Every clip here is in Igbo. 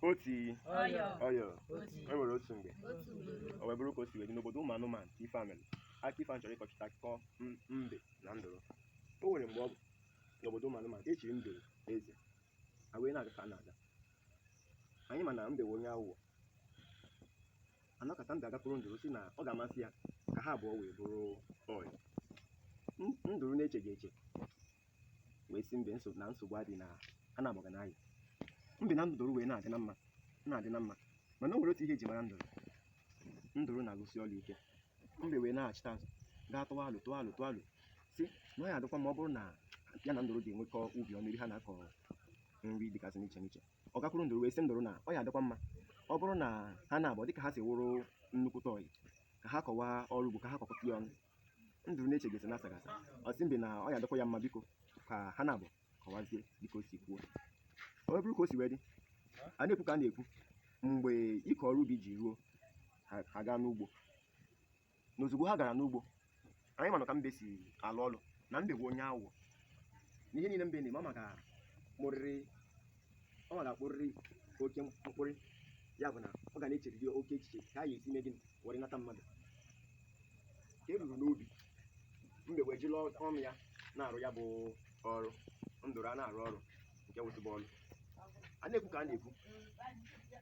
otii ọyọ ọyọ otu e nwere otu mgbe otu ugboro o wee bụrụ ka o si wee dị n'obodo ụmụ anụmanụ ka ife a mere aka ife a chọrọ ịkọchịta akụkọ m- mbe na nduru o nwere mgbe ọ bụ n'obodo ụmụ anụmanụ ka e chiri nduru eze a wee na-aga ka a na-aga anyị ma na mbe wụ onye aghụghọ anọkata mbe agakwuru nduru sị na ọ ga-amasị ya ka ha abụọ wee bụrụ ọyị N- nduru na-echeghị eche wee sị mbe nsogbu na nsogbu adị na ha naabọ ga na-ayị mbe na nduru wee na-adị na mma na-adị na mma mana o nwere otu ihe e ji mara nduru nduru na-arụsi ọrụ ike mbe wee nachita azụ gaa tụwa alo tụwa alo tụwa alo sị na ọ ya adịkwa mma ọ bụrụ na ya na nduru ga-enwekọ ubi ọnụ ebe ha na-akọ nri dịgasị n'iche n'iche ọ gakwuru nduru wee sị nduru na ọ ya adịkwa mma ọ bụrụ na ha naabọ dịka ha si wụrụ nnukwute ọyị ka ha kọwaa ọrụ ugbo ka ha kọkọta ya ọnụ nduru na-echeghị na-asaghị asa ọ sị mbe na ọ ya adịkwa ya mma biko ka ha naabọ kọwazie dịka o si kwuo o wee bụrụ ka o si wee dị a na-ekwu ka a na-ekwu mgbe ịkọ ọrụ ubi ji ruo ha ha gaa n'ugbo na ozugbo ha gara n'ugbo anyị manụ ka mbe si alụ ọlụ na mbe bụ onye aghụghọ n'ihe niile mbe na-eme ọ maka mụrịrị ọ ga-akpụrịrị oke mkpụrị ya bụ na ọ ga na-echeriri oke echiche ka a ga-esi mee gịnị were nata mmadụ ka e ruru n'ubi mbe wee jiri ọnụ ya na-arụ ya bụ ọrụ nduru ana-arụ ọrụ nke wụtụbụ ọrụ a na-ekwu ka a na-ekwu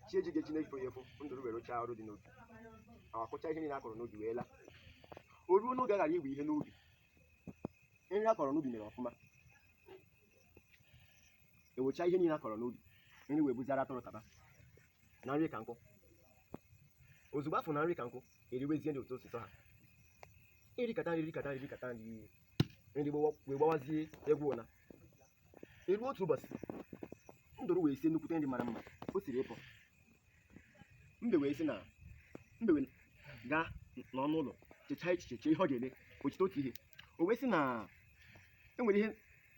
chi eji ya eji na-efo ya efo nduru were rụchaa ọrụ dị n'ubi akọchaa ihe niile a kọrọ n'ubi wee laa o ruo n'oge a gara iwe ihe n'ubi ihe a kọrọ n'ubi mere ọfụma e wechaa ihe niile a kọrọ n'ubi nri wee bụzịrị atụrụ taba na nri ka nkụ ozugbo a fụ na nri ka nkụ eriwezie nri otu o si sọ ha erikata nri erikata nri erikata nri nri gbawa- wee gbawazie egwu ụna e ruo otu ụbọchị nduru wee sie nnukwute nri mara mma o siri ịpụ mbe wee sị na mbe wee gaa n'ọnụ ụlọ chechaa echiche chee ihe ọ ga-eme o cheta otu ihe o wee sị na e nwere ihe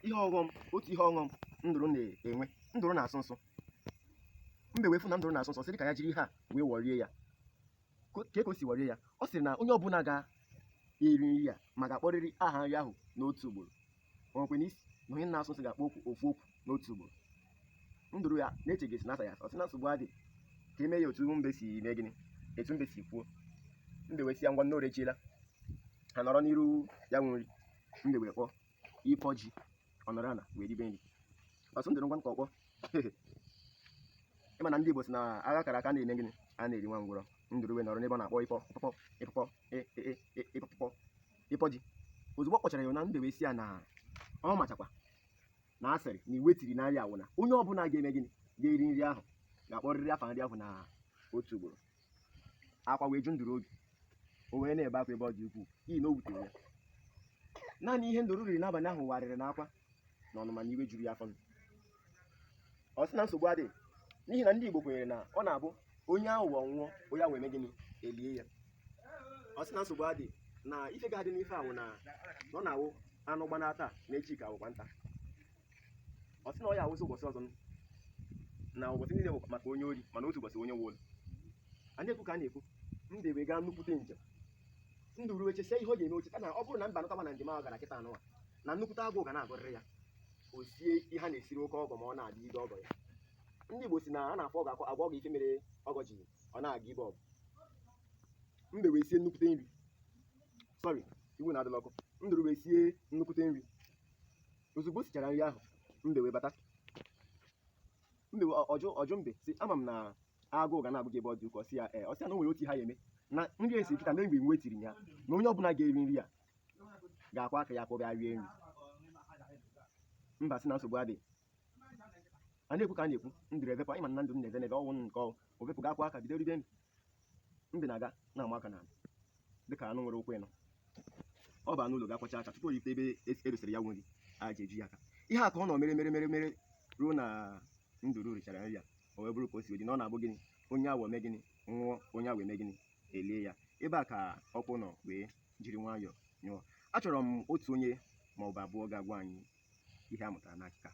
ihe ọghọm otu ihe ọghọm nduru na-enwe nduru na-asụ nsụ mbe wee fụ na nduru na-asụ nsụ sị ka ya jiri ihe a wee wọrie ya ka o si wọrie ya ọ sịrị na onye ọbụla ga-eri nri a ma ga-akpọrịrị aha nri ahụ n'otu ugboro o nwekwe na isi na onye na-asụ nsụ ga-akpọ okwu ofu okwu n'otu ugboro nduru ya na-echeghesi na asa ya ọ sị na nsogbu adị ka e mee ya otu mbe si mee gịnị etu mbe si kwuo mbe wee sị ya ngwanụ orechiela ha nọrọ n'iru ya wụ nri mbe wee kpọọ ịpọ ji ọ nọrọ ala wee ribe nri ọ sụ nduru ngwa nke ọkpọ ị ma na ndị Igbo sị na agha kara aka na-eme gịnị anaghị eri nwa ngwụrọ nduru wee nọrọ n'ebe ọ na-akpọ ịpọ ịpọpọ ịpọpọ e- e- e- e- ịpọpọ ịpọ ji ozugbo ọ kpọchara ya na mbe wee sị ya na ọ machakwa na a sịrị na iwu e tiri na nri a wụ na onye ọbụla ga-eme gịnị ga-eri nri ahụ ga-akpọrịrị afa nri ahụ na otu ugboro akwa wee ju nduru obi o wee na-ebe akwa ebe ọ dị ukwuu n'ihi na o wutere ya naanị ihe nduru riri n'abalị ahụ wụ arịrị na akwa na ọnụma na iwe juru ya afọ ọ sị na nsogbu adịghị n'ihi na ndị Igbo kwenyere na ọ na-abụ onye aghụghọ nwụọ onye awọ eme gịnị elie ya ọ sị na nsogbu adịghị na ife ga-adị n'ife ahụ na na ọ na-awụ anụ gbanaa taa na echi ka wụkwa nta ọ sị na ọ ya-awụzi ụbọchị ọzọ na ụbọchị niile bụ maka onye ori mana otu ụbọchị onye nwe ụlọ a na-ekwu ka a na-ekwu mbe wee gaa nnukwute njem nduru wee chesia ihe ọ ga-eme o cheta na ọ bụrụ na mbe anataba na njem ahụ gara kịtaa nụwa na nnukwute agụụ ga na-agụrịrị ya o sie ihe a na-esiri oke ọgọ ma ọ na-adị ibe ọgọ ya ndị Igbo sị na a na-afọ ọgọ akọ agwa ọgọ ife mere ọgọ ji ọ na-aga ibe ọgọ mbe wee sie nnukwute nri sorry iwe unu adịla ọkụ nduru wee sie nnukwute nri ozugbo o sichara nri ahụ mbe wee bata mbe wee- ọ- ọ jụ ọ jụ mbe sị ama m na agụụ ga na-agụ gị ebe ọ dị ukwuu ọ sị ya ee ọ sị ya na o nwere otu ha ya-eme na nri a esiri kịta na iwu e tiri ya na onye ọbụla ga-eri nri a ga-akwa aka ya ka ọ bịa rie nri mbe sị na nsogbu adịghị a na-ekwu ka a na-ekwu nduru evepụ ị ma na nduru na-eve n'eve o nwe nku o wee vepụ gaa kwaa aka bido ribe nri mbe na-aga na-ama aka n'ala dịka anụ nwere ụkwụ ịnọ ọ baa n'ụlọ ga-akwacha aka tupu o rute ebe e- e dosara ya nri aja eju ya aka ihe a ka ọ nọ mere mere mere mere ruo na nduru richara nri ya o wee bụrụ ka o si dị na ọ na-abụ gịnị onye awọ mee gịnị nwụọ onye awọ eme gịnị elie ya ebe a ka ọkụ nọ wee jiri nwayọọ nyụọ achọrọ m otu onye ma ọ bụ abụọ ga-agwa anyị ihe a mụtara n'akụkọ a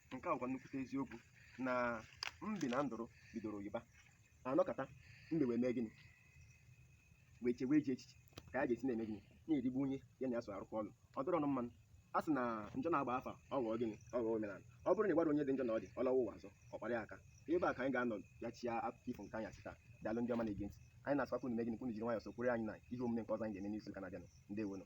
nke a bụkwa nnukwute eziokwu na mbe na nduru bidoro oyi ba anọkata mbe wee mee gịnị wee chewe ajọ echiche ka ya ga-esi na-eme gịnị na-erigbu onye ya na ya so arụkọ ọrụ ọ dịrọnụ mma a sị na njọ na-agba afọ ọ ghọọ gịnị ọ ghọọ omenala ọ bụrụ na ị gwarọ onye dị njọ na ọ dị ọ lawa ụwa ọzọ ọ kpara ya aka ebe a ka anyị ga-anọ ya chia akụkọ ifo nke anyị asị taa daalụ ndị ọma na-ege ntị anyị na-asịkwa unu mee gịnị ka unu jiri nwayọọ sokwere anyị na ihe omume nke ọzọ anyị ga-eme n'izu ụka na-abịanụ ndewonụ